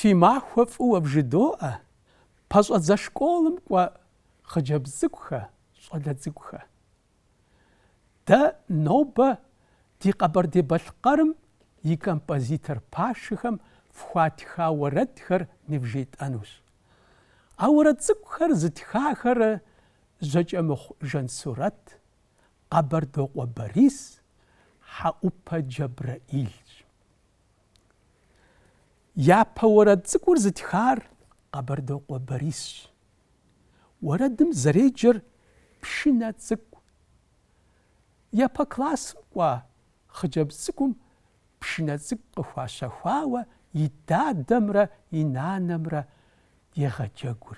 Фи махуэ фӏыуэ бжыдоӏэ, пэщӏэдзэ школым кӏуэ хъыджэбз цӏыкӏухэ, щӏалэ цӏыкӏухэ. Дэ нобэ ди Къэбэрдей-Балъкъэрым и композитор пашэхэм фхуатха уэрэдхэр нывжетӏэнущ. А уэрэд цӏыкӏухэр зытхахэр Жьэкӏэмыхъу Жансурэт, Къэбэрдокъуэ Борис, Хьэӏупэ Джэбрэӏилщ. Япэ уэрэд цӏыкӏур зытхар Къэбэрдокъуэ Борисщ. Уэрэдым зэреджэр пшынэ цӏыкӏу. Япэ классым кӏуа хъыджэбз цӏыкӏум пшынэ цӏыкӏу къыхуащэхуауэ и дадэмрэ и нанэмрэ егъэджэгур.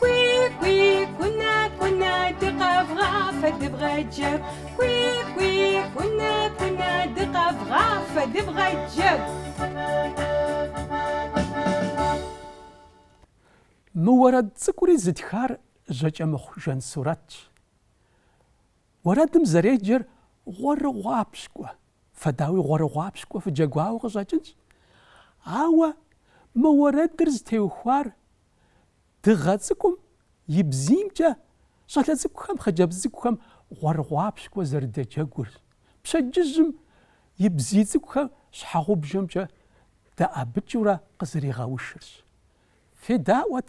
Кӏуи-кӏуи, кӏунэ, кӏунэ, дыкъэвгъафэ, дывгъэджэгу. Кӏуи-кӏуи, кӏунэ, кӏунэ, дыкъэвгъафэ, дывгъэджэгу. Мы уэрэд цӏыкӏури зытхар Жьэкӏэмыхъу Жансурэтщ. Уэрэдым зэреджэр Гъуэрыгъуапщкӏуэ, фэ дауи Гъуэрыгъуапщкӏуэ фыджэгуауэ къыщӏэкӏынщ. Ауэ мы уэрэдыр зытеухуар Дыгъэ цӏыкӏум и бзиймкӏэ щӏалэ цӏыкӏухэм, хъыджэбз цӏыкӏухэм гъуэрыгъуапщкӏуэ зэрыдэджэгурщ, пщэдджыжьым и бзий цӏыкӏухэр щхьэгъубжэмкӏэ дэӏэбыкӏыурэ къызэригъэушырщ. Федаӏуэт!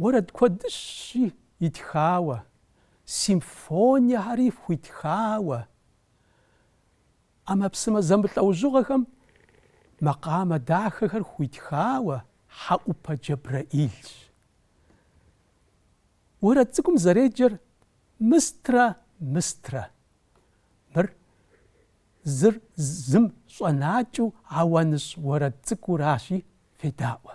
Уэрэд куэдыщи итхауэ, симфониехэри хуитхауэ, ӏэмэпсымэ зэмылӏэужьыгъуэхэм макъамэ дахэхэр хуитхауэ Хьэӏупэ Джэбрэӏилщ. Уэрэд цӏыкӏум зэреджэр Мыстрэ, Мыстрэ. Мыр зыр зым щӏэнакӏыу ауаныщӏ уэрэд цӏыкӏуращи, федаӏуэ.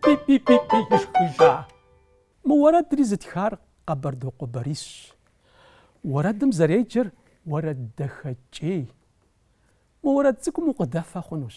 Пи-пи-пи-пи! ишхыжа. Мы уэрэдри зытхар Къэбэрдокъуэ Борисщ. Уэрэдым зэреджэр Уэрэддэхэкӏей. Мы уэрэд цӏыкӏум укъыдэфэ хъунущ.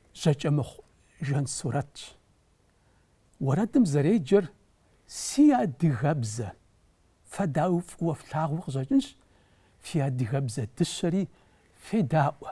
Жьакӏэмыхъу Жан сурэтщ. Уэрэдым зэреджэр Си адыгэбзэ! Фэ дауи фӏыуэ флъагъуу къыщӏэкӏынщ фи адыгэбзэ дыщэри федаӏуэ!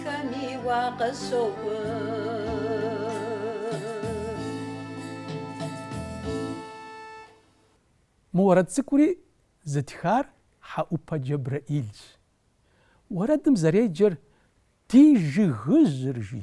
Хэми вакъэ сокӏуэ. Мы уэрэд цӏыкӏури зытхар Хьэӏупэ Джэбрэӏилщ. Уэрэдым зэреджэр Ди жыгыжьыр жи.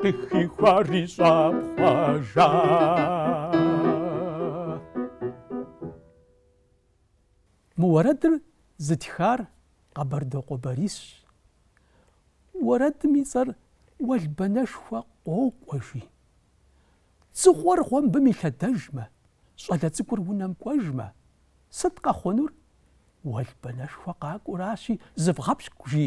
Къыхихуар и щӏапхъуэ жа. Мы уэрэдыр зытхар Къэбэрдокъуэ Борисщ. Уэрэдым и цӏэр Уэлбанэшхуэ къокӏуэ, жи. Дзыгъуэр гъуэмбым илъэдэжмэ, щӏалэ цӏыкӏур унэм кӏуэжмэ, сыт къэхъунур? Уэлбанэшхуэ къакӏуэращи, зывгъэпщкӏу, жи.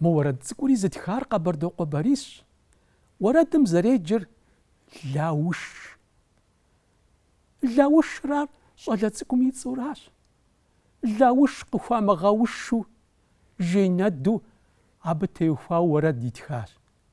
Мы уэрэд цӏыкӏури зытхар Къэбэрдокъуэ Борисщ. Уэрэдым зэреджэр Лауш. Лаушрар щӏалэ цӏыкӏум и цӏэращ. Лауш къыхуамыгъэушу, жей нэду абы теухуауэ уэрэд итхащ.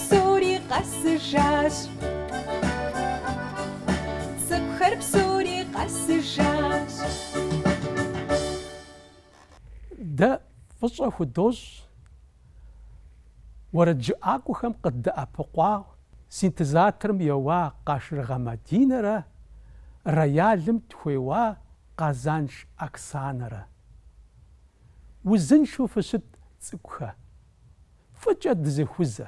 Псори къэсыжащ. Цӏыкӏухэр псори къэсыжащ. Дэ фӏыщӏэ худощӏ уэрэджыӏакӏуэхэм къыддэӏэпыкъуа синтезаторым еуа Къашыргъэ Мадинэрэ роялым тхуеуа Къазанш Оксанэрэ. Узыншэу фыщыт, цӏыкӏухэ! Фӏыкӏэ дызэхузэ.